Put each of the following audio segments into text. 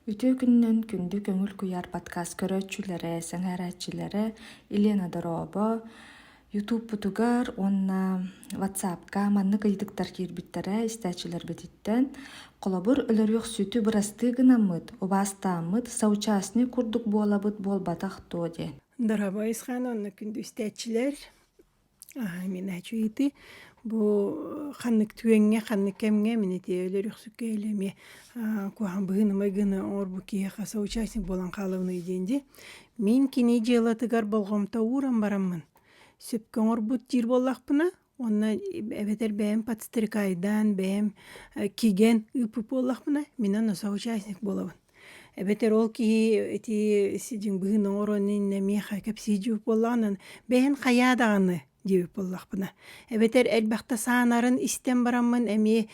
Үтүө күнүнэн күндү көҥүл куйаар подкаст көрөөччүлэрэ, сэҥээрээччилэрэ Елена Дорообо ютубпутугар уонна ватсапка маннык ыйытыктар киирбиттэрэ истээччилэрбититтэн холобур өлөрүөхсүтү бырастыы гынаммыт убаастааммыт соучастник курдук буолабыт буолбатах дуо диэн дорообо айысхаан уонна күндү истээччилэр Миначуити бу ханнык түөҥҥэ, ханнык кэмҥэ мин ити өлөрүхсүккэ или эмиэ куһаҕан быһыынымай гына оҥорбу киһиэхэ соучастник буолан хаалабыный диэн дии. Мин кини дьыалатыгар болҕомто ууран бараммын сөпкө оҥорбут диир буоллахпына уонна эбэтэр бэйэм подстрекайдаан, бэйэм кигэн ыыппыт буоллахпына мин аны соучастник буолабын. Эбэтэр ол киһи ити сидиҥ быһын оҥорон иннэ миэхэ кэпсии диибит буоллаҕынан бэйэҥ хайаа даҕаны диэбит буоллахпына эбэтэр элбэхтэ саанарын истэн бараммын эмиэ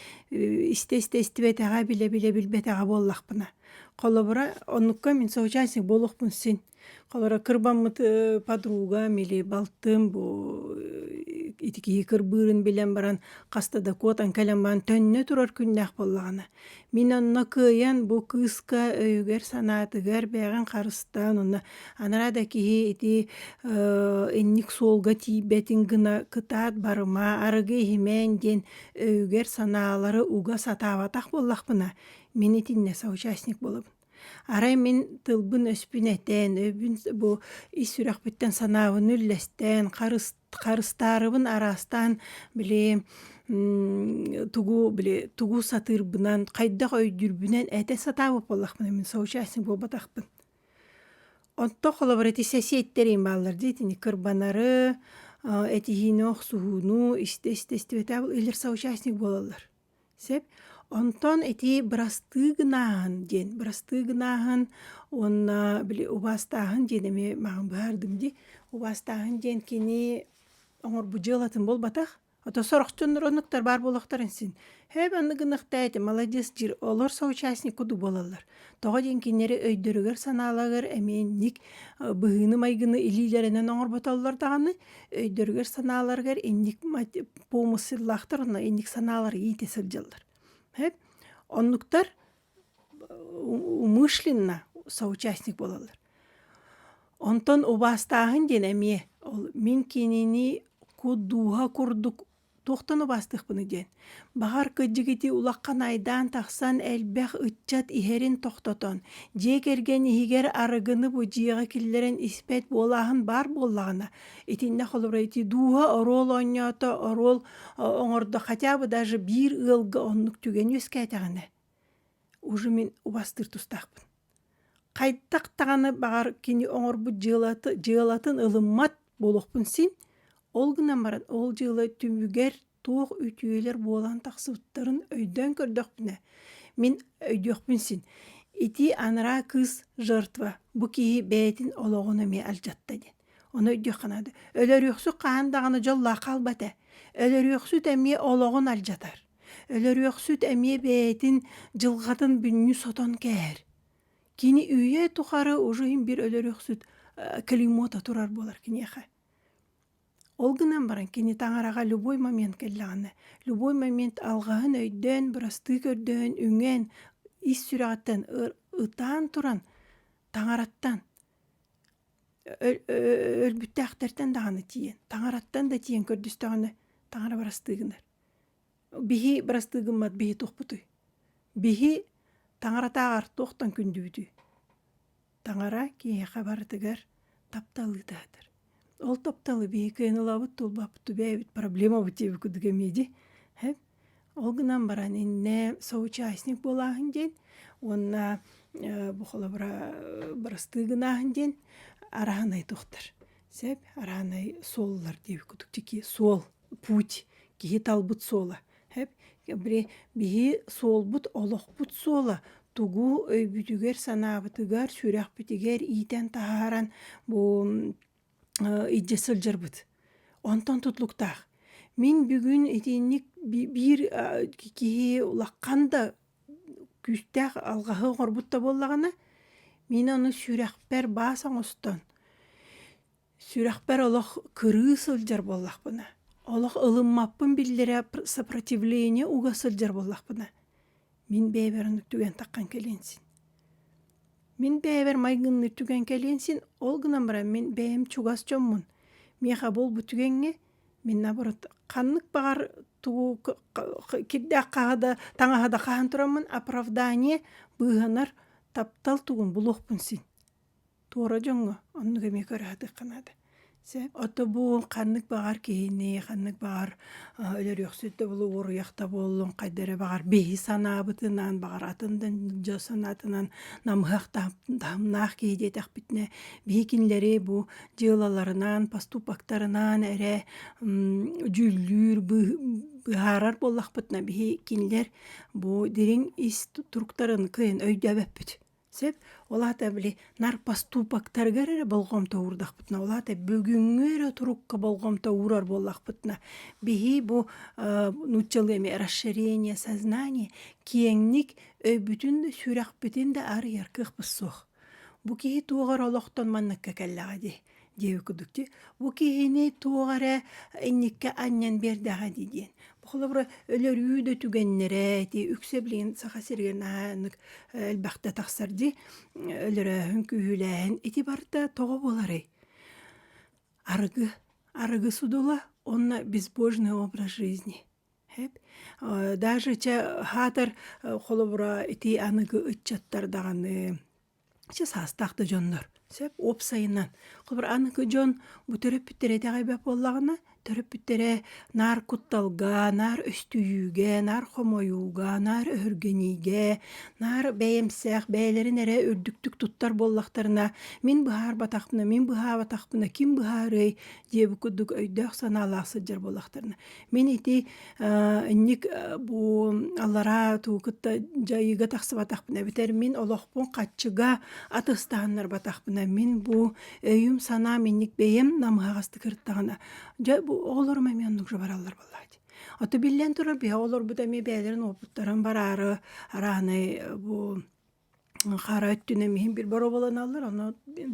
истэ-истэ истибэтэҕэ билэ-билэ билбэтэҕэ буоллахпына холобура оннукка мин соучастник буолуохпун син Холоро кырбаммыт э, подруга мили балтым бу э, ити киһи кырбыырын билэн баран хаста да куотан кэлэн баран төннө турар күннээх буоллаҕына мин онно кыайан бу кыыска өйүгэр санаатыгар бэйэҕин харыстаан онно анараа да киһи ити э, инник суолга тиийбэтин гына кытаат барыма арыгы иһимээн диэн өйүгэр санаалары уга сатаабатах буоллахпына мин итиннэ соучастник болобун Арай мин тылбын-өспүн этээн, өбүн бу ис сүрэхпиттэн санаабын үллэстээн, харыс харыстаарыбын араастаан били тугу били тугу сатыырбынан, хайдах өйдүүрбүнэн этэ сатаабыт буоллахпына мин соучастник буолбатахпын. Онто холобура ити сэсиэттэрим бааллар дии итини кырбанары, этиһиини охсуһууну, истэ-истэ истибэтэ илэр соучастник буолаллар. Сөп. Онтон ити бырастыы гынааһын диэн, бырастыы гынааһын уонна били убаастааһын диэн эмиэ маҕан быһаардым дии. Убаастааһын диэн кини оҥорбут дьыалатын буолбатах, ото сорохтонор оннуктар баар буолуохтарын син. Һөөп, аны гыныахтаатым, маладец диир, олор соучастник кудуу буолаллар. Тоҕо диэн кинилэри өйдөрүгэр-санааларыгар эмиэ инник быһыыны-майгыны илиилэринэн оҥорботоллор даҕаны, өйдөрүгэр-санааларыгар инник помысллаахтар уонна инник санаалар иитэ сылдьаллар. Оннуктар умышленно соучастник буолаллар. Онтон убаастааһын диэн эмиэ ол мин кинини кут дууһа курдук туохтан убаастыахпыный диэн баҕар кыдьыгытыы улахан айдаан тахсан элбэх ыччат иһэрин тохтотон дьиэ кэргэн иһигэр арыгыны бу дьиэҕэ киллэрэн испэт буолааһын баар буоллаҕына итиннэ холобурайтыы дууһа оруол оонньоото оруол оҥордо хотя бы даже биир ыалга оннук түгэн үөскээтэҕинэ уже мин убастыыр тустаахпын Хайдах даҕаны баҕар кини оҥорбут дьыалата дьыалатын ылыммат буолуохпун син, ол гынан баран ол дьыала түмүгэр туох үтүөлэр буолан тахсыбыттарын өйдөөн көрдөхпүнэ, мин өйдүөхпүн син. Ити анараа кыыс жертва, бу киһи бэйэтин олоҕун эмиэ алдьатта диэн. Ону өйдүөххэ наада. Өлөрүөхсүт хаһан даҕаны дьоллоох хаалбат ээ. Өлөрүөхсүт эмиэ олоҕун алдьатар. Өлөрүөхсүт эмиэ бэйэтин дьылҕатын бүннүү сотон кэһэр. Кини үйэ тухары уже иһин бир өлөрүөхсүт клеймота турар буолар киниэхэ. Ол гынан баран кини таҥараҕа любой момент кэллэҕинэ, любой момент алҕаһын өйдөөн, бырастыы көрдөөн, үҥэн, ис сүрэҕиттэн ытаан туран таҥараттан өлбүттээхтэртэн даҕаны тиийэн, таҥараттан да тиийэн көрдөстөҕүнэ таҥара бырастыы гынар. Биһи бырастыы гыммат биһи туохпутуй? Биһи таҥаратааҕар туохтан күндүбүтүй? Таҥара киһиэхэ барытыгар таптал ыытаатар. Ол тапталы биһи кыайынылаабыт тулбаппыт убээбит проблемабыт диэби кудук эмиэ дии эһ ол гынан баран иннэ соучастник буолааһын диэн уонна бу холобура бырастыы гынааһын диэн араһынай туохтар сэп араһынай суоллар диэби кудук тикии суол путь киһи талбыт суола биһи суолбут олохпут суола тугу өйбүтүгэр-санаабытыгар сүрэхпитигэр иитэн таһааран бу илдьэ сылдьарбыт онтон тутулуктаах мин бүгүн итинник биир киһи улахан да күүстээх алҕаһы оҥорбут да буоллаҕына мин аны сүрэхпэр баас оҥостон Сүрэхпэр олох кырыы сылдьар буоллахпына, олох ылыммаппын биллэрэ сопротивление уга сылдьар буоллахпына, мин бэйэбэр ону түгэн таххан кэлиэн син. Мин бэйэбэр майгынны түгэн кэлиэн син, ол гынан баран мин бэйэм чугас дьоммун миэхэ буолбут түгэҥҥэ мин наоборот ханнык баҕар тугу кирдээх хаһада таҥаһа да хаһан тураммын оправдание быыһанар таптал тугун булуохпун син. Туора дьоҥҥо оннук эмиэ көрүһатыахха наада. Чэ отобуун ханнык баҕар киһини ханнык баҕар өлөрүөхсүт да буолуо уоруйах да буоллун хайда эрэ баҕар биһи санаабытынан баҕар атын да дьон санаатынан намыһах таһымнаах киһи диэтэхпитинэ биһи кинилэри бу дьыалаларынан поступоктарынан эрэ дьүүллүүр быһаарар буоллахпытына биһи кинилэр бу дириҥ ис туруктарын кыайан өйдөөбөппүт. Сөп, олаата били нар поступоктарыгар эрэ болҕомто уурдахпытына, олаата бүгүҥҥү эрэ турукка болҕомто уурар буоллахпытына, биһи бу нууччалыы эми расширение сознания киэҥник өйбүтүн да сүрэхпитин да арыйар кыахпыт суох. Бу киһи туох эрэ олохтон манныкка кэллэҕэ дии. Деви кудукти, бу киһини туох эрэ инникке анньан биэрдэҕэ дии диэн. Холобура, өлөрүү да түгэннэрэ, ити үксэ билигин Саха сиригэр наһааннык элбэхтэ тахсар дии, өлөрөөһүн, күүһүлээһин ити барыта тоҕо буоларый? Арыгы, арыгы судула уонна безбожный образ жизни. Даже чэ аһаатар холобура ити аныгы ыччаттар даҕаны Чэ саастаах да дьоннор сөп уопсайынан холобур аныгы дьон бу төрөппүттэрэ итэҕэй эбэ буоллаҕына төрөппүттэрэ наар кутталга, наар өстүйүүгэ, наар хомойууга, наар өһүргэниигэ, наар бэйэмсэх бэйэлэрин эрэ үрдүктүк туттар буоллахтарына мин быһаарбатахпына мин быһаабатахпына ким быһаарыай диэбит курдук өйдөөх-санаалаах сылдьар буоллахтарына. Мин ити инник бу аллараа туу кытта дьайыыга тахсыбатахпына битэр мин олохпун хаччыга атыстааннарбатахпына мин бу өйүм санаам инник бэйэм намыһаҕасты кырыттаҕына дьэ бу оҕолорум эмиэ оннук бараллар буоллааччы Ото биллэн турар биһэ олорбут эмиэ бэйэлэрин уопуттарын бараары арааны бу Хара өттүнэн иһин бир боруобаланаллар, ону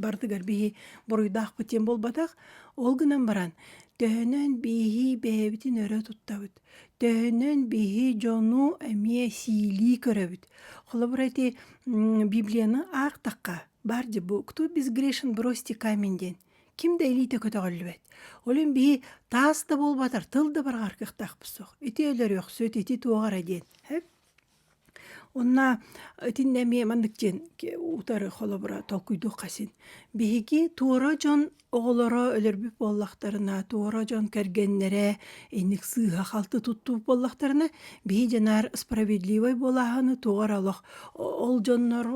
барытыгар биһи буруйдаах бытиэн буолбатах. Ол гынан баран, төһөнөн биһи бэйэбитин өрө туттабыт, төһөнөн биһи дьону эмиэ сиилии көрөбүт. Холобура ити библияны аахтахха, баар дьэ бу «Кто безгрешен, бросьте камень» диэн. Ким да илиитэ көтөҕүллүбэт. Олүн биһи таас да буолбатар, тыл да барҕар кыахтаахпыт суох. Ити өлөрүөхсүт, ити туох эрэ диэн. Онна итиннэ эмиэ маннык диэн утары холобура толкуйдуох хасин. Биһиги туора дьон оҕолоро өлөрбүт буоллахтарына, туора дьон кэргэннэрэ инник сыыһа-халты туттубут буоллахтарына, биһи дьанаар справедливай буолааһыны туга эрэ олох ол дьоннор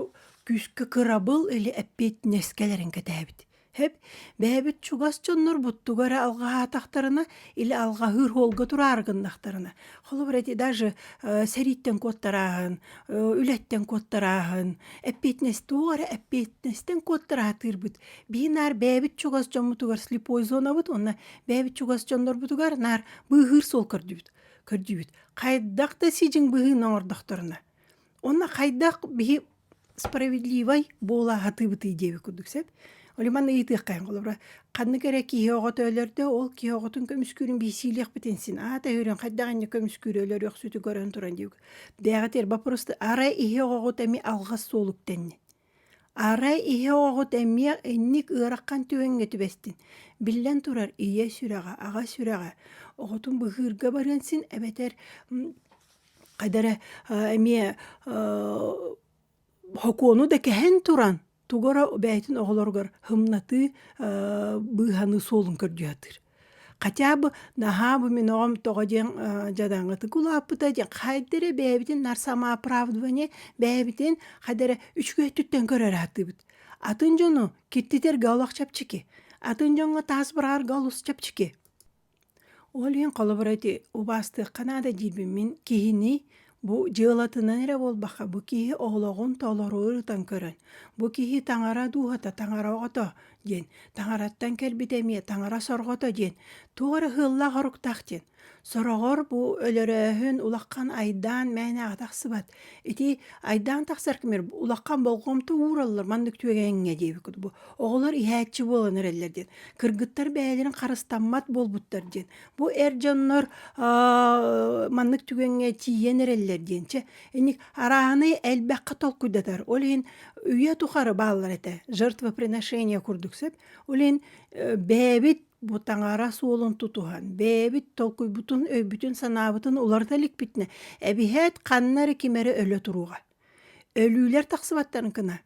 күүскэ кырабыл или эппиэтинэскэлэрин кэтээбит. Хэп бэһэбит чугас дьоннорбуттуга эрэ алҕаһаатахтарына или алҕаһыыр оһолго тураары гыннахтарына холобура ити даже сэрииттэн куоттарааһын үлэттэн куоттарааһын эппиэтинэс туох эрэ эппиэтинэстэн куоттараатыырбыт бии наар бэйэбит чугас дьоммутугар слепой зонабыт уонна бэйэбит чугас дьоннорбутугар наар быыһыыр суол көрдүбүт көрдүүбүт хайдах да сидьиҥ быһыыны оҥордохторуна уонна хайдах биһи справедливай буола сатыыбытый диэбит курдук сөп Oli манна ыйытыаххайын холобура ханнык эрэ киһи оҕото өлөрдө ол киһи оҕотун көмүскүүрүн биирсиилиэхпитин син аата өһүрүн хайдаҕынньа көмүскүүрү өлөрүөхсүтү көрөн туран диэбит бээҕэтэр боппуруста арай иһи оҕоҕут эми алҕас суолук тэнни арай иһи оҕоҕут эмиэ инник ыараххан түгэҥҥэ түбэстин биллэн турар ийэ сүрэҕэ аҕа сүрэҕэ оҕотун быһыырга барыан син эбэтэр Эдэрэ эмиэ сокуону да кэһэн туран тугу эрэ бэйэтин оҕолоругар һымнатыы быыһаныы суолун көрдүү сатыыр. Хотя бы наһаа бу мин оҕом тоҕо диэн дьадаҥытык улааппыта диэн хайда эрэ бэйэбитин нар самооправдывание бэйэбитин хайда эрэ үчүгэй өттүттэн көрөрө сатыыбыт. Атын дьону киртитэргэ олох чэпчэки. Атын дьоҥҥо таас быраҕарга олус чэпчэки. Ол иһин холобур эти убаастыахха наада диибин мин киһини бу дьыалатынан эрэ буолбакка бу киһи олоҕун толору ырытан көрөн бу киһи таҥара дууһата таҥара оҕото диэн таҥараттан кэлбит эмиэ таҥара сорҕото диэн туох эрэ ыһыыллаах оруктаах диэн сороҕор бу өлөрөөһүн улахан айдаан мээнэҕэ тахсыбат ити айдаан тахсар кэмигэр улахан болҕомто уураллар маннык түгэҥҥэ диэбит курдук бу оҕолор иһээччи буолан эрэллэр диэн кыргыттар бэйэлэрин харыстаммат буолбуттар диэн бу эр дьоннор маннык түгэҥҥэ тиийэн эрэллэр диэн чэ инник арааһаны элбэххэ толкуйдатар ол иһин үйэ тухары бааллар этэ жертвоприношение курдук сөп ол иһин бэйэбит бу таҥара суолун тутуһан бэйэбит толкуйбутун өйбүтүн санаабытын уларыта иликпитинэ эбиһээт ханна эрэ ким эрэ өлө туруоҕа Өлүүлэр тахсыбаттарын кына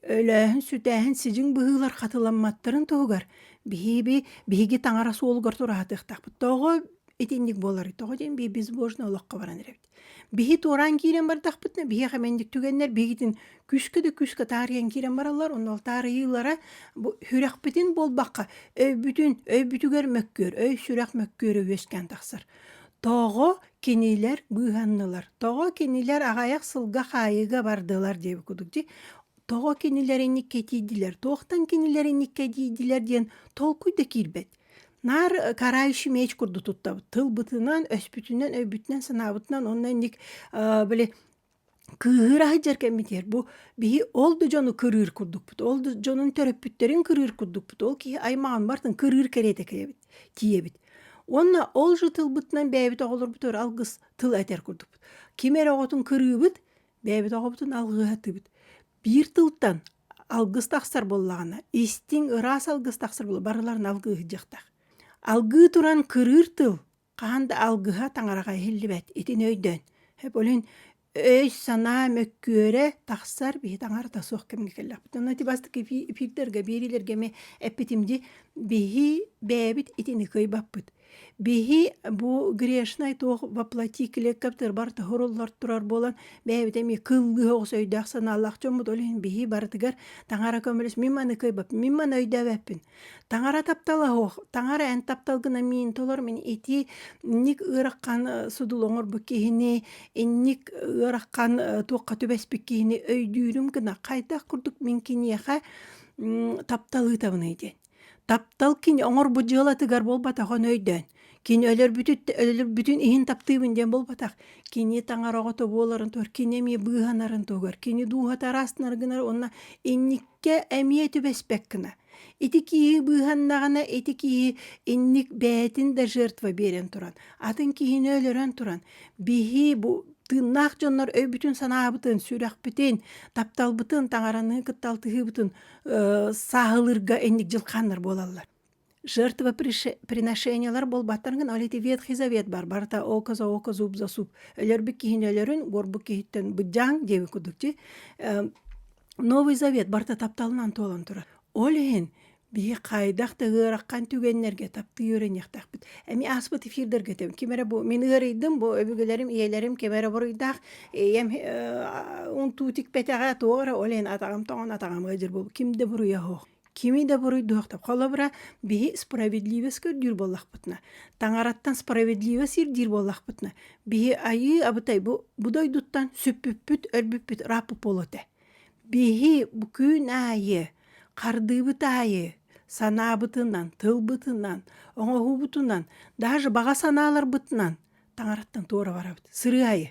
өлөөһүн, сүтээһин, сидьиҥ быһыылар хатыламматтарын туһугар биһиби биһиги таҥара суолугар тураатыахтаахпыт. Тоҕо итинник буоларый? Тоҕо диэн бии безбожно олоххо баран эрэбит. Биһи туораан киирэн бардахпытына биһиэхэ мэлдьик түгэннэр биһигитин күүскэ да күүскэ таарыйан киирэн бараллар. Онно ол таарыйыылара бу сүрэхпитин буолбакка өйбүтүн өй бүтүгэр мөккүөр өй сүрэх мөккүөрэ үөскээн тахсар. Тоҕо Кинилэр быыһаннылар. Тоҕо кинилэр аҕайах сылга хаайыыга бардылар диэбит курдук дии. Тоҕо кинилэр инниккэ тиийдилэр, туохтан кинилэр инниккэ тиийдилэр диэн толкуй да киирбэт. Наар э, карающий меч курдук туттабыт. Тылбытынан, өспүтүнэн, өйбүтүнэн, санаабытынан онно инник э, били кыыһыыр аһыдьар кэммитигэр бу биһи ол да дьону кырыыр курдукпут ол да дьонун төрөппүттэрин кырыыр курдукпут ол киһи аймаҕын барытын кырыыр кэриэтэ кэлэбит тиийэбит уонна ол же тылбытынан бэйэбит оҕолорбутугар алгыс тыл этэр курдукпут ким эрэ оҕотун кырыыбыт бэйэбит оҕобутун алгыһы атыыбыт биир тылтан алгыс тахсар буоллаҕына истиҥ ыраас алгыс тахсар буолла барыларын алгыһы дьахтар алгыы туран кырыыр тыл хаһан да алгыһа таҥараҕа иһиллибэт итини өйдөөн эболин өй-санаа мөккүөрэ тахсар биһи таҥарата суох кэмҥэ кэллэхпит онно ити бастакы эфирдарга биэриилэргэ эмиэ эппитим дии биһи бэйэбит итини кыайбаппыт биһи бу грешнай туох воплоти клетковтарбар тоһуруллар турар буолан бэйэбит эмиэ кылгыһа оҕус өйдөөх санаалаах дьоммут ол иһин биһи барытыгар таҥара көмөлөс мин маны кыайбаппын мин маны өйдөөбөппүн Таҥара таптала оһох, таҥара эн таптал гына миин толор мин ити инник ыарахан э, судул оҥорбут киһини, инник ыарахан э, туохха түбэспит киһини өйдүүрүм гына хайдах курдук мин киниэхэ таптал ыытабыный диэн. Таптал кини оҥорбут дьыалатыгар буолбатах өйдөөн. Кини өлөрбүтүт өлөрбүтүн иһин таптыыбын диэн буолбатах. Кини таҥар оҕото буоларын тугар кини эмиэ быыһанарын тугар кини дууһата араастанар гынар уонна инниккэ эмиэ түбэспэт гына. Ити киһи быыһаннаҕына ити киһи инник бэйэтин да жертва биэрэн туран, атын киһини өлөрөн туран, биһи бу тыыннаах дьоннор өйбүтүн-санаабытын, сүрэхпитин, тапталбытын, таҥараныы кытта алтыһыыбытын сааһылыырга инник дьылхааннар буолаллар. жертвоприношениелар буолбаттарынгын ол ити ветхий завет бар барыта око за око зуб за зуб өлөрбүт киһини өлөрүн буорбут киһиттэн быддьаан диэбит курдук ти новый завет барыта тапталынан туолан турар ол иһин биһи хайдах да ыараххан түгэннэргэ таптыы үөрэниэхтэхпит эми ааспыт эфирдерге тэбин ким эрэ бу мин ыарыйдым бу өбүгэлэрим ийэлэрим ким эрэ буруйдаах ийэм унтуу тикпэтэҕэ туора ол иһин атаҕам тоҥон атаҕам ыдьыр бу ким да буруйа суох кими да буруйдуохта холобура биһи справедливость көрдүүр буоллахпытына таҥараттан справедливость ирдиир буоллахпытына биһи айыы абытай бу бу дойдуттан сүппүппүт өлбүппүт ырааппыт буолуо этэ биһи бу күн аайы хардыыбыт аайы санаабытынан тылбытынан оҥоһуубутунан даже баҕа санааларбытынан таҥараттан туора барабыт сырыы айы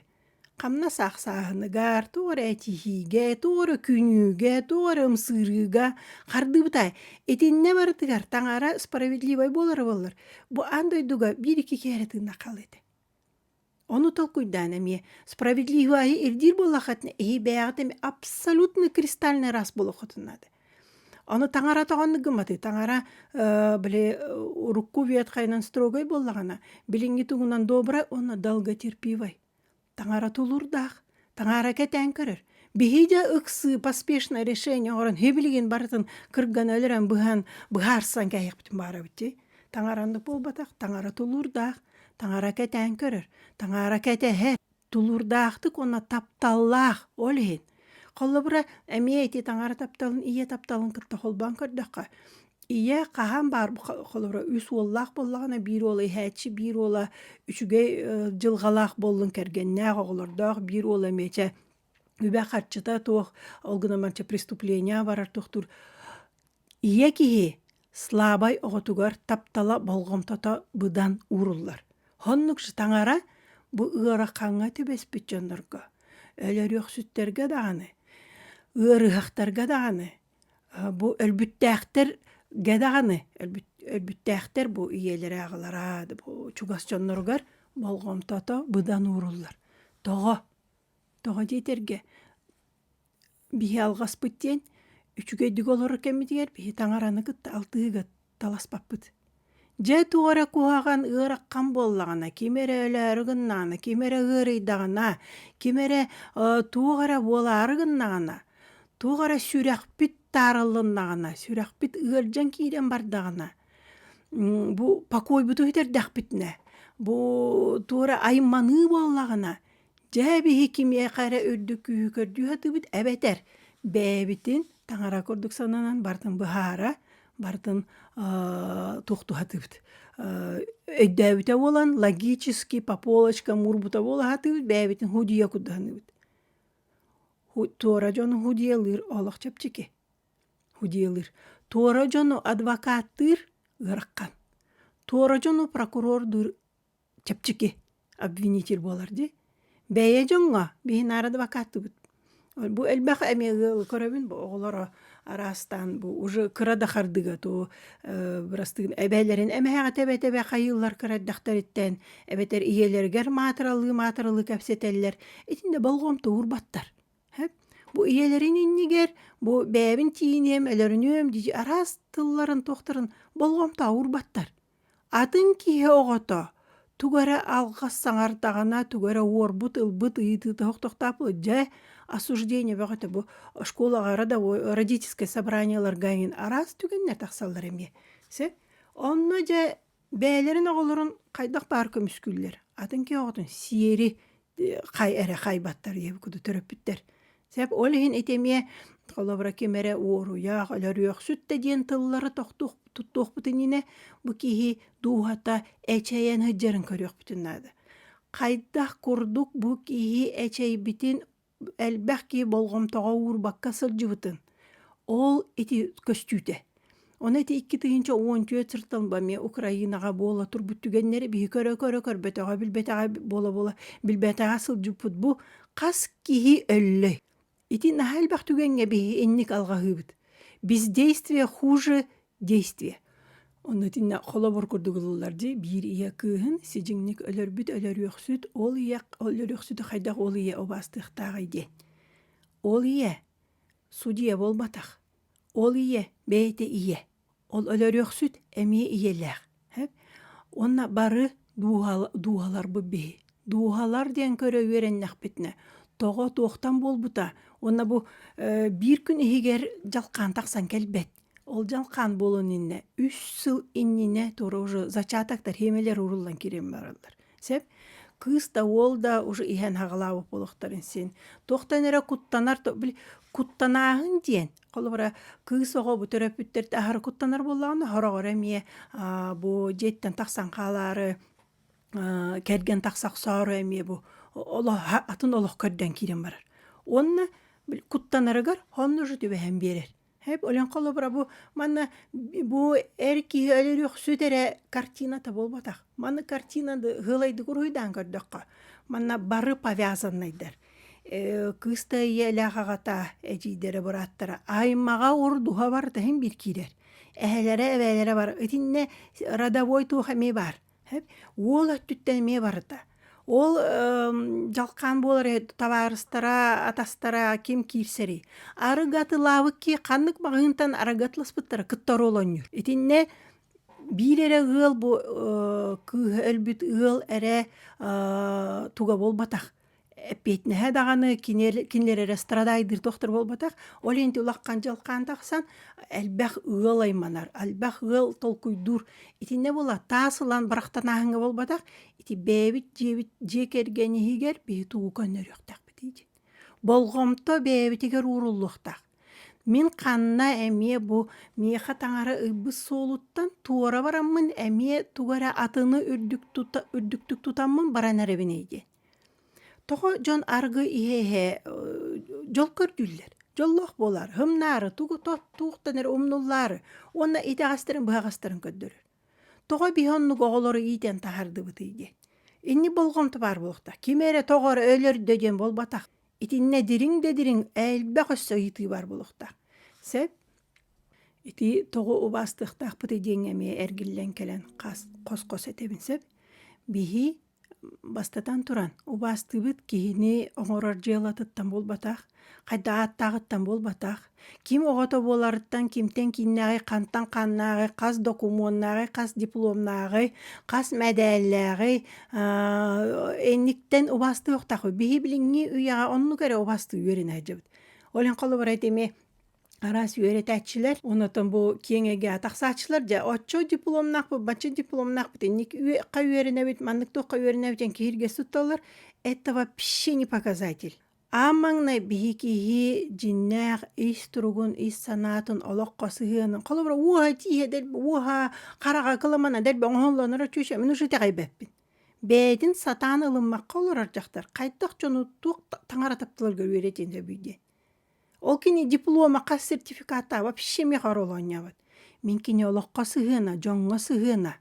Хамнас аахсааһыныгар, туох эрэ этиһиигэ, туох эрэ күнүүгэ, туох эрэ ымсыырыыга хардыыбыта. Итиннэ барытыгар таҥара справедливай буолара буоллар, бу аан дойдуга биир икки киһи эрэ тыынна хаалыа этэ. Ону толкуйдаан эмиэ справедливайы ирдиир буоллаххытына, эһиги бэйэҕит эмиэ абсолютно кристальнай рас буолуоххутун наада. Оны таҥара тоҕоннук гымматы таҥара били урукку ветхайынан строгай буоллаҕына билиҥҥи тугунан добра уонна долготерпивай таҥара тулурдаах таҥара кэтээн көрөр биһиидэ ыксыы поспешное решение оҥорон һивилигин барытын кыргана өлөрөн быһан быһаарсан кэһиэхпитин баарабыти таҥара оннук буолбатах таҥара тулуурдаах таҥара кэтээн көрөр таҥара кэтэһэр тулуурдаахтык уонна тапталлаах ол иһин холобура эмиэ ити таҥара тапталын ийэ тапталын кытта холбоон көрдөххө ийэ хаһан баар холобура үс уоллаах буоллаҕына биир уола иһээччи биир уола үчүгэй дьылҕалаах буоллун кэргэннээх оҕолордоох биир уола миэчэ үбэ харчыта туох ол гынан барыча преступление барар туохтуур Ийэ киһи Слабай оҕотугар таптала болҕомтото быдан ууруллар. Хоннук таҥара бу ыарахаҥҥа түбэспит дьоннорго, өлөрүөхсүттэргэ даҕаны, ыарыһахтарга даҕаны, бу өлбүттээхтэргэ даҕаны, өлбүттээхтэр бу ийэлэрэ аҕалара чугас дьонноругар болҕомтото быдан ууруллар. Тоҕо? Тоҕо диэтэргэ биһи алҕаспыт диэн үчүгэйдик олорор кэммитигэр биһи таҥараны кытта алтыһыыга таласпаппыт дьэ туох эрэ куһаҕан ыараххан буоллаҕына ким эрэ өлөөрү гыннаҕына ким эрэ ыарыйдаҕына ким эрэ туох эрэ буолаары гыннаҕына туох эрэ сүрэхпит таарыллыннаҕына сүрэхпит ыалдьан киирэн бардаҕына бу покойбуту сүтэрдэхпитинэ бу туора айманыы буоллаҕына Дьэ биһи кимиэхэ эрэ үрдүк күүһү көрдүү сатыыбыт эбэтэр бэйэбитин таҥара курдук сананан барытын быһаара, барытын тохтуһатыбыт. Өйдөөбүтэ буолан логически по полочкам уурбута буола сатыыбыт бэйэбитин худьуйа куттаһыныбыт. Туора дьону худьуйалыыр олох чэпчэки. Худьуйалыыр. Туора дьону адвокаттыыр ыарахан. Туора дьону прокурордуур чэпчэки обвинитель буолар дии бэйэ дьоҥҥо биһи наара адвокаттыбыт бу элбэх эмиэ көрөбүн бу оҕолоро араастаан бу уже кыра да хардыгатуу бырастыын эбэлэрин эмээхи тэбэ тэбэ хайыыллар кыра эрдэхтэриттэн эбэтэр ийэлэригэр маатыралыы маатыралыы кэпсэтэллэр итиннэ болҕомтоур баттар бу ийэлэрин иннигэр бу бэйэбин тииниэм өлөрүнүөм дии араас тылларын туохтарын болҕомтоур баттар Атын киһи оҕото тугу эрэ алҕас саҥардаҕына, тугу эрэ уорбут, ылбыт ыйытыы тохтоохтоп дьэ осуждение бөҕөтө бу школаҕа родовой родительское собраниеларга иҥин араас түгэннэр тахсаллар эмиэ сэ онно дьэ бэйэлэрин оҕолорун хайдах баар көмүскүүллэр атын киһи оҕотун сиэри хай эрэ хайбаттарыйабы куду төрөппүттэр сеп ол иһин ити эмиэ холобура ким эрэ уоруйах өлөрүөхсүттэ диэн тыллары тохтуох туттуохпутун инэ бу киһи дууһата эчэйэн сылдьарын көрүөхпүтүн наада хайдах курдук бу киһи эчэйбитин элбэх киһи болҕомтоҕо уурбакка сылдьыбытын ол ити көстүүтэ Ону ити икки тыһыынча уон түөрт сыртан ба эмиэ Украинаҕа буола турбут түгэннэри биһи көрө-көрө көрбөтөҕө-билбэтэҕэ буола-буола билбэтэҕэ сылдьыппыт бу хас киһи өллөй. Ити наһаа элбэх түгэҥҥэ биһи инник алҕаһыыбыт. Бездействие хуже действие. Ону итиннэ холобур курдук ылыллар дии биир ийэ кыыһын сидьиҥник өлөрбүт өлөрүөхсүт ол ийэ өлөрүөхсүтү хайдах ол ийэ убаастыахтааҕый диэн. Ол ийэ судья буолбатах. Ол ийэ, бэйэтэ ийэ. Ол өлөрүөхсүт эмиэ ийэлээх. Уонна бары дууһаларбыт биһи. Дууһалар диэн көрө үөрэннэхпитинэ тоҕо туохтан буолбута уонна бу биир күн иһигэр дьалхаан тахсан кэлбэт. Ол дьалхаан буолан иннэ үс сыл иннинэ туора уже зачатоктар, хиэмэлэр ууруллан кириэн бараллар. Сеп кыыс да уол да уже иһэн хагалаабыт буолуохтарын син. Туохтан эрэ куттанар били куттанааһын диэн холобура кыыс оҕо бу төрөппүттэрт аһары куттанар буоллаҕына хороҕо эрэ эмиэ бу дьиэттэн тахсан хаалаары кэргэн тахса охсоору эмиэ бу атын олох көрдөөн киирэн барар. Уонна куттанарыгар хонно уже түбэһэн биэрэр. Һэп өлөн холобура бу манна бу эр киһи өлөрөхсүт эрэ картината буолбатах. Манна картина ыһылайдык уруһуйдаан көрдөххө, манна бары повязаннайдар. кыыста ийэлээх аҕата, эдьиийдэрэ бырааттара аймаҕа ордуһа барыта иһин биир киирэр. Эһэлэрэ, эбээлэрэ бар. Итиннэ родовой туох эмиэ баар. Уол өттүттэн эмиэ барыта. Ол дьалхаан буолар табаарыстара, атастара ким киирсэрий? Арыгы атылаабыкки ханнык маҕаһыынтан арыгы атыласпыттара кытта оруолунньуур. Итиннэ биир эрэ ыал бу кыыһа өлбүт ыал эрэ туга буолбатах. эппиэтинэһэ даҕаны кини кинилэрэ страдайдыыр тохтор буолбатах ол инти улахан дьылхаан тахсан элбэх ыал айманар элбэх ыал толкуйдуур итиннэ була таас ылан барахтанааһыҥҥа буолбатах ити бэйэбит дьиэбит дьиэ кэргэн иһигэр биһи тугу көннөрүөхтээхпитий диэн болҕомто бэйэбитигэр ууруллуохтаах мин ханна эмиэ бу миэхэ таҥара ылбыт суолуттан туора бараммын эмиэ тугу эрэ атыны үрдүктүк тутаммын баран эрэбин ий диэн Тоҕо дьон аргы иһэ-иһэ дьол көрдүүллэр. Дьоллоох буолар, хымнаары, тугу туохтан эрэ умнуллаары уонна итэҕэстэрин быһаҕастарын көрдөрөр. Тоҕо биһи оннук оҕолору иитэн таһаардыбытый диэн. Инни болҕомто баар буолуохтаах. Ким эрэ тоҕо эрэ өлөр да диэн буолбатах. Итиннэ дириҥ да дириҥ элбэх өссө ыйытыы баар буолуохтаах. Сөп? Ити тоҕо убаастыахтаахпытый диэҥҥэ эмиэ эргиллэн кэлэн хос-хос этэбин сөп. Биһи Бастатан туран, убаастыыбыт киһини оҥорор дьыалатыттан буолбатах, хайда ааттааҕыттан буолбатах, ким оҕото буоларыттан, кимтэн кииннээҕи, хантан ханнааҕы, хас докумуоннааҕы, хас дипломнааҕы, хас мэтээллээҕи инниктэн убаастыахтаах үһү. Биһи билиҥҥи үйэҕэ оннук эрэ убаастыы үөрэнэ сылдьабыт. Ол иһин холобура ити эмиэ араас үөрэтээччилэр онотон бу киэҥэге тахсааччылар дьэ отчо дипломнаах бачча дипломнаах инник үөхха үөрэнэбит маннык туохха үөрэнэбит ден киһирге сытталар этого вообще не показатель а маҥнай биһи киһи дьиннээх ис туругун ис санаатын олоххо сыһыанын холобура уоха тииһэ дэлб уоха хараҕа кыламана дэлб оҥоһоллонура чүчө мин ушу итэҕэйбэппин бэйэтин сатаан ылыммакка олорор дьахтар хайдах дьону туох таҥара таптылар көрүөрэтин сөбүйде Ол кини дипломаха сертификата вообще мех оролонньобут. Мин кини олоххо сыһыана, дьоҥҥо сыһыана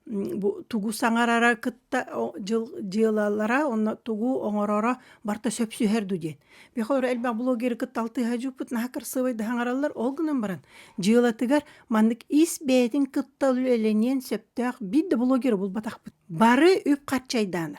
бу тугу саҥарара кытта дьыл дьыалалара онно тугу оҥороро барта сөпсүһэр ду диэн. Бехору элбэх блогеры кытта алтыһа дьуппут наһаа кырсыбай да хаҥараллар ол гынан баран дьыалатыгар маннык ис бэйэтин кытта үлэлэниэн сөптөөх биир да блогеру булбатахпыт. Бары үп-харчы айдаана.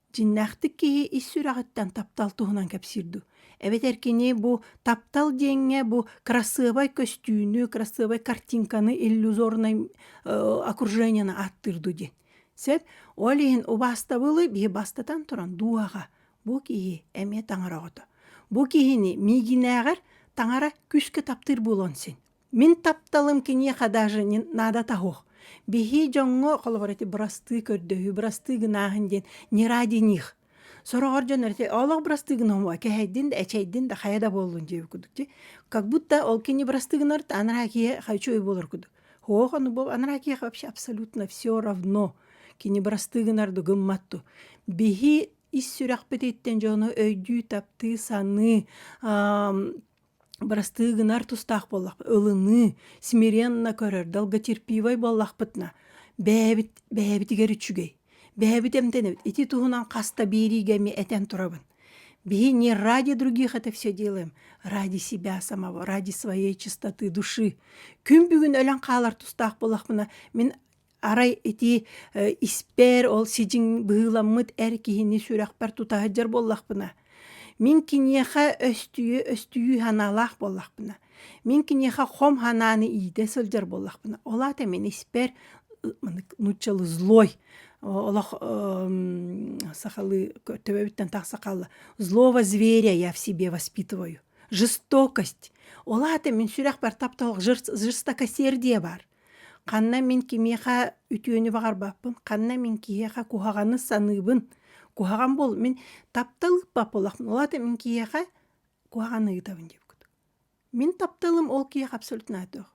Дьиннээхтик киһи ис сүрэҕиттэн таптал туһунан кэпсиир дуу. Эбэтэр кини бу таптал диэҥҥэ бу кырасыабай көстүүнү, кырасыабай картинканы иллюзорнай окруженияны ааттыыр дуу диэн. Сөп? Ол иһин убаастабылы биһи бастатан туран дууһаҕа бу киһи эмиэ таҥара оҕото. Бу киһини миигинээҕэр таҥара күүскэ таптыыр буолуон син. Мин тапталым киниэхэ даже не надо того. Биһии дьоҥҥо холобур эти бырастыы көрдөһүү, бырастыы гынааһын диэн не ради них. Сороҕор дьон эти олох бырастыы гыномуа, кэһэйдин да, эчэйдин да хайа да буоллун диэбит курдук дии. Как будто ол кини бырастыы гынарыт анараа киһи хочу и болар курдук. Ох, ону бу анараа киһи вообще абсолютно все равно. Кини бырастыы гынарды гымматту. Биһи ис сүрэхпититтэн дьону өйдүү, таптыы, саныы, Бырастыы гынар тустаах буоллахпыт, ылыныы, смиренно көрөр, долготерпивай буоллахпытына, бэйэбит, бэйэбитигэр үчүгэй. Бэйэбит эмтэнэбит. Ити туһунан хаста биэриигэ эмиэ этэн турабын. Биһи не ради других это все делаем, ради себя самого, ради своей чистоты души. Күн бүгүн өлөн хаалар тустаах буоллахпына, мин Арай ити испээр ол сидьиҥ быһыыламмыт эр киһини сүрэхпэр тута сылдьар буоллахпына, мин киниэхэ өстүйүү-өстүйүү санаалаах буоллахпына, мин киниэхэ хом санааны иитэ сылдьар буоллахпына, ол аата мин испээр нууччалыы злой олох сахалыы төбөбүттэн тахса хаалла злого зверя я в себе воспитываю жестокость ол аата мин сүрэхпэр тапталах жестокосердие баар Ханна мин кимиэхэ үтүөнү баҕарбаппын, ханна мин киһиэхэ куһаҕаны саныыбын, куһаҕан буол мин таптал ыппат буоллахпын, ол аата мин киһиэхэ куһаҕаны ыытабын диэбиккит. Мин тапталым ол киһиэхэ абсолютно ааттаах.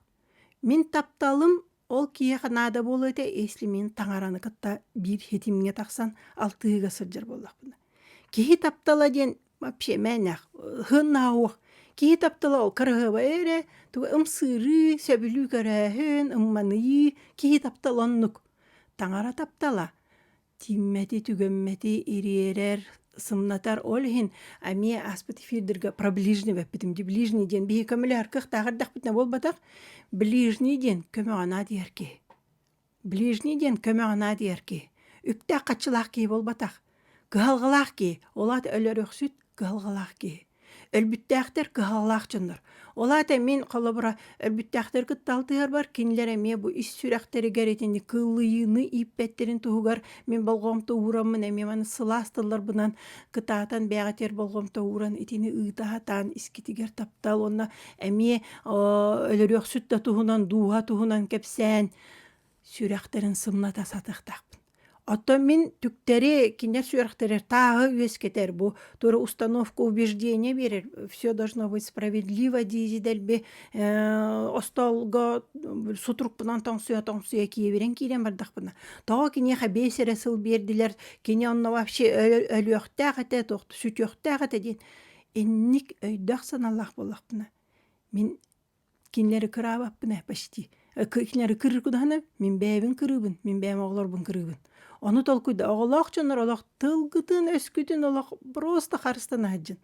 Мин тапталым ол киһиэхэ наада буолуо этэ если мин таҥараны кытта биир ситимҥэ тахсан алтыһыыга сылдьар буоллахпына. Киһи таптала диэн вообще мээнэх ыһыаннаах киһи таптала ол кыраһыабай эрэ тугу ымсыырыы сөбүлүү көрөөһүн ымманыйыы киһи таптала оннук таҥара таптала тииммэти түгэммэти ириэрэр сымнатар ол иһин эмиэ ааспыт эфирдэргэ про ближнего эппитим дии ближний диэн биһиги көмөлөһөр кыахтаах эрдэхпитинэ буолбатах ближний диэн көмөҕө наадыйар киһи Ближний диэн көмө санаа диэр киһи үктээх хаччылаах киһи буолбатах. Кыһалҕалаах киһи, ол аата өлөрөхсүт кыһалҕалаах киһи. Өлбүттээхтэр кыһалҕалаах дьоннор. Ол аата мин холобура өлбүттээхтэр кытта алтыһарбар кинилэр эмиэ бу ис сүрэхтэригэр итини кыыллыйыыны ииппэттэрин туһугар мин болҕомто уураммын эмиэ маны сылаас тылларбынан кытаатан бэйэҕитигэр болҕомто ууран итини ыыта сатаан искитигэр таптал уонна эмиэ өлөрөхсүт да туһунан дууһа туһунан кэпсээн сүрэхтэрин сымната сатыктахпын оттон мин түктэри кинилэр сүрэхтэрэ тааҕы үөскэтэр бу туора установка убеждение берер все должно быть справедливо дии дэлби остолго сутурукпунан тоҥсуйа тоҥсуйа киэбирэн киирэн бардахпына тоҕо киниэхэ бэс эрэ сыл биэрдилэр кини онно вообще өлүөхтээх этэ тохту сүтүөхтээх этэ диэн инник өйдөөх санаалаах буоллахпына мин кинилэри кыраабаппына почти кинилэри кыргыдаһына мин бэйэбин кырыыбын мин бэйэм оҕолорбун кырыыбын ону толкуйда оҕолоох дьоннор олох тылгытын өскүтүн олох просто харыстана сылдьын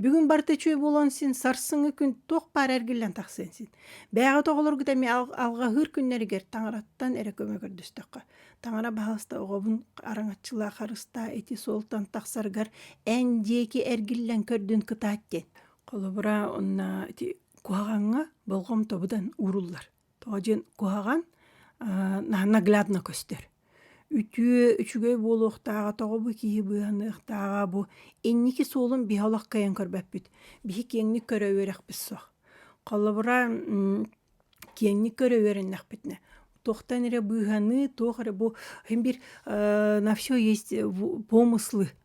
бүгүн барыта үчүгэй буолан син сарсыҥҥы күн туох баар эргиллэн тахсыан син бэйэҕит оҕолоргут эмиэ алҕаһыыр күннэригэр таҥараттан эрэ көмө көрдөстөххө таҥара баһаалыста оҕобун араҥаччылаа харыстаа ити суолтан тахсаргар эн диэки эргиллэн көрдүн кытаат диэн Холобура, онна ити куһаҕаҥҥа болҕомтобутан ууруллар. Тоҕо диэн куһаҕан наглядно көстөр. Үтүө, үчүгэй буолуохтааҕа тоҕо бу киһи быыһаныахтааҕа бу инники суолун биһи олох кыайан көрбөппүт. Биһи киэҥник көрө үөрэхпит суох. Холобура, киэҥник көрө үөрэннэхпитинэ туохтан эрэ быыһаныы, туох эрэ бу иһин бир на всё есть помыслы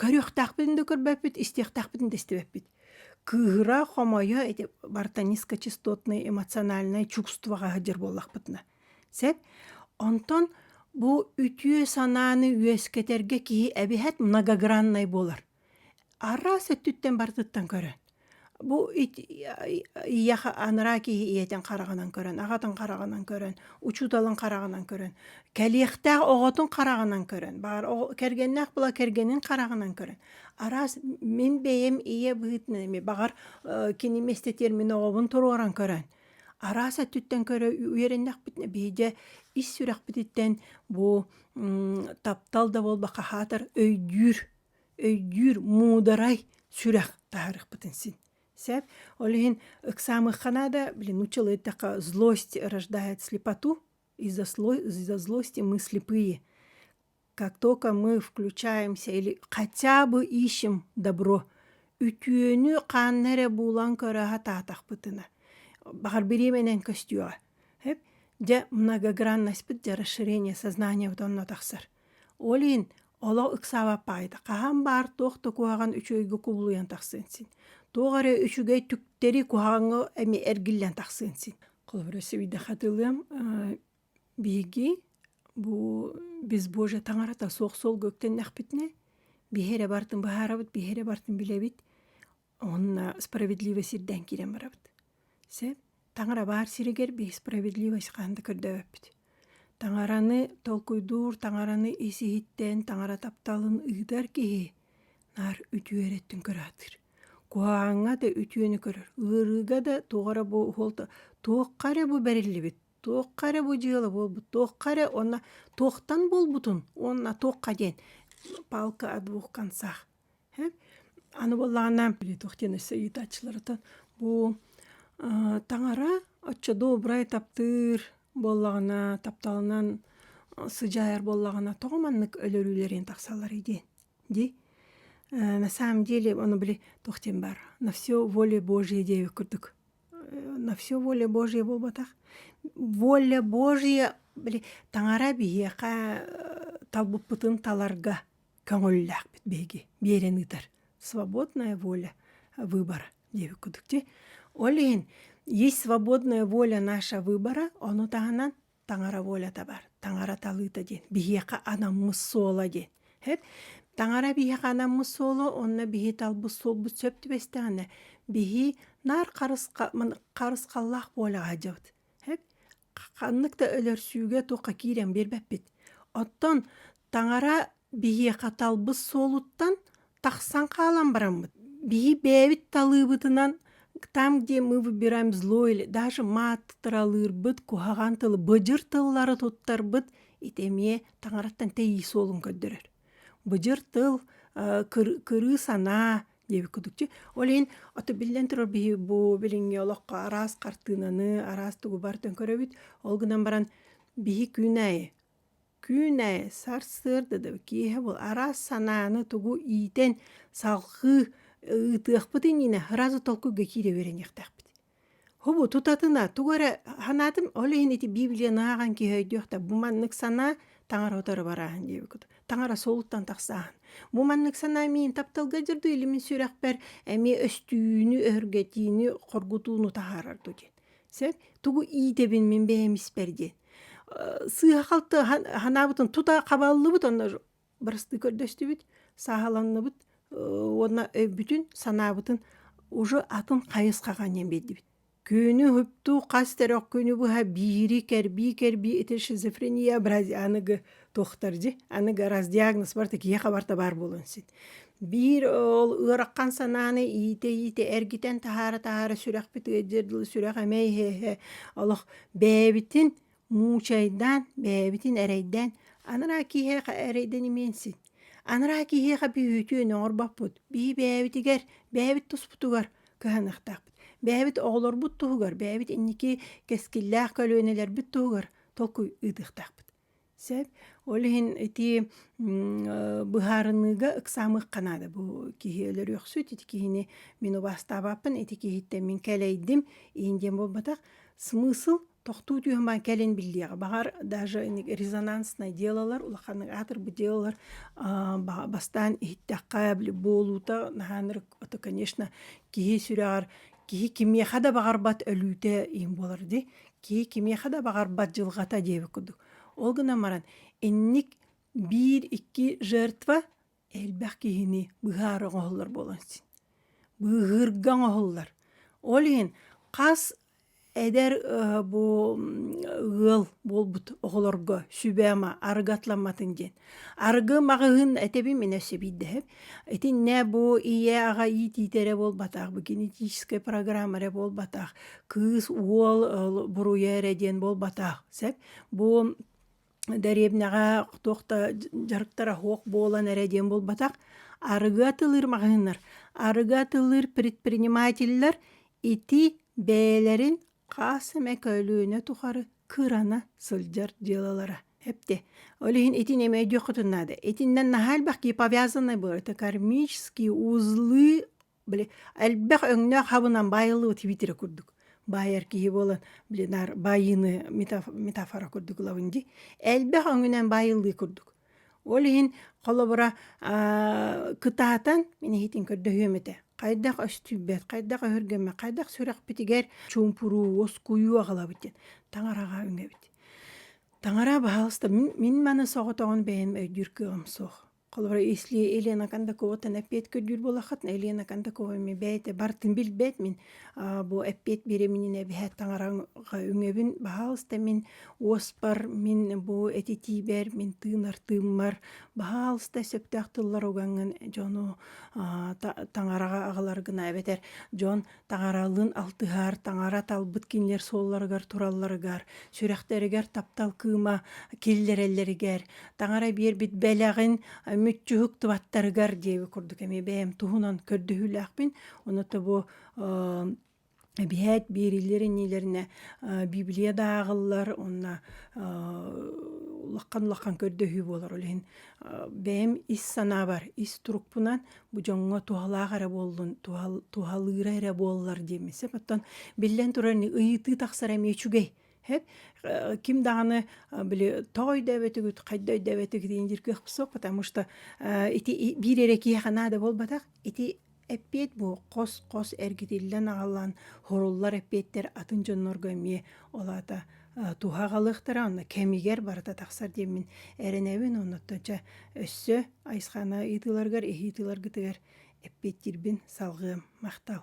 Көрүөхтээхпин да көрбөппүт, истиэхтээхпин да истибэппит. Кыыһыра, хомойо ити барта низкочастотное эмоциональное чувствоҕа сылдьар буоллахпытына. Сөп? Онтон бу үтүө санааны үөскэтэргэ киһи эбиһэт многограннай буолар. Араас өттүттэн барытыттан көрөн. Бу ийэхэ анараа киһи ийэтин хараҕынан көрөн, аҕатын хараҕынан көрөн, учууталын хараҕынан көрөн, кэлиэхтээх оҕотун хараҕынан көрөн, баар кэргэннээх була кэргэнин хараҕынан көрөн, араас мин бэйэм ийэ быһыытынан эмиэ баҕар кини эмэстэтиэр мин оҕобун туруоран көрөн, араас өттүттэн көрө үөрэннэхпитинэ биһиэхэ ис сүрэхпититтэн бу таптал да буолбакка аһаатар өйдүүр өйдүүр муударай сүрэх таһаарыхпытын син сэп ол иһин ыксаамыхха наада блин учил эттэхэ злость рождает слепоту из-за слой из-за злости мы слепые как только мы включаемся или хотя бы ищем добро үтүөнү хаанна эрэ буулан көрө сатаатахпытына баҕар бириэмэнэн көстүөҕэ эп дьэ многогранноспыт дьэ расширение сознания онно тахсар ол иһин Олох ыксаабат паайда. Хаһан баар туох да куһаҕан үчүгэйгэ кубулуйан тахсыан син. Туох эрэ үчүгэй түктэри куһаҕаҥҥа эми эргиллэн тахсыан син. Холобура сибиди хатылыам биһиги бу безбожие таҥарата суох суолга үктэннэхпитинэ биһи эрэ бартын быһаарабыт биһи эрэ бартын билэбит Уонна справедливо сирдэн киирэн барабыт. Сеп таҥара баар сиригэр би справедливость хаһан да көрдөбөппүт. Таҥараны толкуйдуур, таҥараны ис-иһиттэн, таҥара тапталын ыытар киһи наар үтүө эрэттин көрө сатыыр. Куһаҕаҥҥа да үтүөнү көрөр, ыарыыга да туох эрэ бу уһуолта туохха эрэ бу бэриллибит, туохха эрэ бу дьыала буолбут, туохха эрэ уонна туохтан буолбутун уонна туохха диэн палка о двух концах Аны буоллаҕына туох диэн өссө ыйытааччыларытын бу таҥара оччо добрай таптыыр буоллаҕына тапталынан сыдьаайар буоллаҕына тоҕо маннык өлөрүүлэрин тахсалларый диэн дии на самом деле ону били туох диэн баар на все воля божья диэбит курдук на все воля божья буолбатах воля божья били таҥара биһиэхэ талбыппытын таларга көҥүллээхпит биһиги биэрэн ыытар свободная воля выбора диэбит кудук ти ол иһин есть свободная воля наша выбора ону таһынан таҥара волята бар таҥара талыыта диэн биһиэхэ анаммыт суола диэн эт таҥара биһиэхэ анаммыт суола онно биһи талбыт суолбут сөп түбэстэҕинэ биһи наар харысха харысхаллаах буоляҕа дьабыт эт ханнык да өлөрсүүгэ туохха киирэн биэрбэппит оттон таҥара биһиэхэ талбыт суолуттан тахсан хаалан бараммыт биһи бэйэбит талыыбытынан там где мы выбираем злое даже мат тыралыырбыт куһаҕан тылы быдьыр тыллары туттарбыт ити эмиэ таҥараттан тэйии суолун көрдөрөр быдьыр тыл кырыы санаа диэбит кудукчу ол иһин ото биллэн турар биһи бу билиҥҥи олоххо араас хартыынаны араас тугубар төлкөрөбүт ол гынан баран биһи күн аайы күн аайы сарсыарда да киэһэ бу араас санааны тугу иитэн салҕыы ыытыахпытын инэ сразу толкуйга киирэ үөрэниэхтээхпит Хубу тутатына тугу эрэ санаатым, ол иһин ити Библияны ааҕан киһи өйдүөхтэ бу маннык санаа таҥаратары барааһын диэбиккит. Таҥара суолуттан тахсааһын. Бу маннык санаа миин тапталга дьырду илимин сүрэхпэр эмиэ өстүүнү, өһүргэтиини, хоргутууну таһаарар дуу диэн. Сөп? Тугу иитэбин мин бэйэм испэр диэн. Сыыһа-халты санаабытын тута хабаллыбыт онно Барыстыы көрдөстүбүт, сааһаланныбыт уонна өйбүтүн, санаабытын уже атын хайысхаҕа ниэн биэрдибит. Күнү уһуктуу хас эрэ күнү быһа биири кэрбии-кэрбии ити шизофрения бразя аныгы туохтар дьи аныгы раз диагноз барыта киһиэхэ барыта баар буолуон син. Биир ол ыарахан санааны иитэ-иитэ эргитэн таһаара-таһаара сүрэхпит ыалдьар дылы сүрэх эмэй иһэ-иһэ олох бэйэбитин Муучайдаан бэйэбитин эрэйдээн анараа киһиэхэ эрэйдэн имиэн син. Анараа киһиэхэ бүһүүтүн оҥорбоппут бии бэйэбитигэр бэйэбит туспутугар кыһаныахтаахпыт. Бэйэбит оҕолорбут туһугар бэйэбит инники кэскиллээх көлүөнэлэрбит туһугар толкуй ыытыахтаахпыт. Сөп ол иһин ити быһаарыныыга ыксаамыахха наада бу киһи өлөрүөхсүт ити киһини мин убаастаабаппын ити киһиттэн мин кэлэйдим иһин диэн буолбатах смысл тохтуу түһүмээн кэлин биллиэҕэ баҕар даже резонанснай делалар улаханнык аатырбыт делалар бастаан иһиттэххэ буолуута наһаан ырыт конечно киһи сүрэҕэр киһи кимиэхэ да баҕарбат өлүүтэ иһин буолар дии киһи кимиэхэ да баҕарбат дьылҕата диэбит курдук ол гынан баран инник биир икки жертва элбэх киһини быһаары оҥоһуллар буолан син быыһыырга оҥоһуллар ол иһин хас эдэр бу ыал буолбут оҕолорго сүбэ ама арыгы атламматын диэн арыгы маҕаһыын этэбин мин өссө биирдэһэм итиннэ бу ийэ аҕа иитиитэ эрэ буолбатах бу генетическай программа эрэ буолбатах кыыс уол буруйа эрэ диэн буолбатах сөп бу дэриэбинэҕэ туох да дьарыктара суох буолан эрэ диэн буолбатах арыгы атылыыр маҕаһыыннар арыгы атылыыр предпринимателлэр ити бэйэлэрин хас эмэ көлүөнэ тухары кырана сылдьар дьыалалара эптэ ол иһин итини эмэ өйдүөххүтүн наада итиннэн наһаа элбэх киһи повязаннай бу это кармические узлы Били элбэх өҥнөөх хабынан баайыллыбыт витире курдук баайар киһи буолан били наар баайыыны метафора курдук ылабын дии элбэх өҥүнэн баайыллыы курдук ол иһин холобура кытаатан мин иһитин көрдөһүөм этэ хайдах өстүйбэт хайдах өһүргэммэт хайдах сүрэхпитигэр чуумпуруу оскуйуу аҕалабыт диэн таҥараҕа үҥэбит таҥара баһаалыста мин маны соҕотоҕун бэйэм өйдүүр кыаҕым суох Холобура, если Елена Кондакова-тан эппиэт көрдүүр буолаххытына, Елена Кондакова ми бэйте бартын билбэт мин бу эппиэт биэриминин эбэһэ таҥараҕа үҥөбүн баһаалыста мин уоспар мин бу этитиибэр мин тыынар тыыммар баһаалыста сөптөөх тыллар угаҥын дьону таҥараҕа аҕалар гына эбэтэр дьон Таҥаралыын алтыһар, таҥара талбыт кинилэр суолларыгар туралларыгар, сүрэхтэригэр таптал кыыма киллэрэллэригэр, таҥара биэрбит бэлэҕин мүччүһүктубаттарыгар диэби курдук эмиэ бэйэм туһунан көрдөһүүлээхпин. Онуота бу эбиһээт биэриллэр иннилэринэ библия да ааҕыллар уонна улахан улахан көрдөһүү буолар ол иһин бэйэм ис санаабар ис турукпунан бу дьоҥҥо туһалаах эрэ буоллун, туһал, туһалыыра эрэ буоллар диэммисэп. Оттон биллэн турар, ыйытыы тахсара эмиэ үчүгэй. Э, ким даҕаны били тоҕо өйдөөбөтүгүт, хайда өйдөөбөтүгүт диэн диргэх суох, потому что ити биир эрэ киһиэхэ наада буолбатах. Ити эппиэт бу хос-хос эргитиллэн аҕалан, хоруллар эппиэттэр атын дьоннорго эмиэ ол аата туһа аҕалыахтара онно кэмигэр барыта тахсар диэммин эрэнэбин оннуттан чэ өссө айсхана ыйытыыларгар иһи ыйытыыларгытыгар эппиэттиирбин салҕыам махтал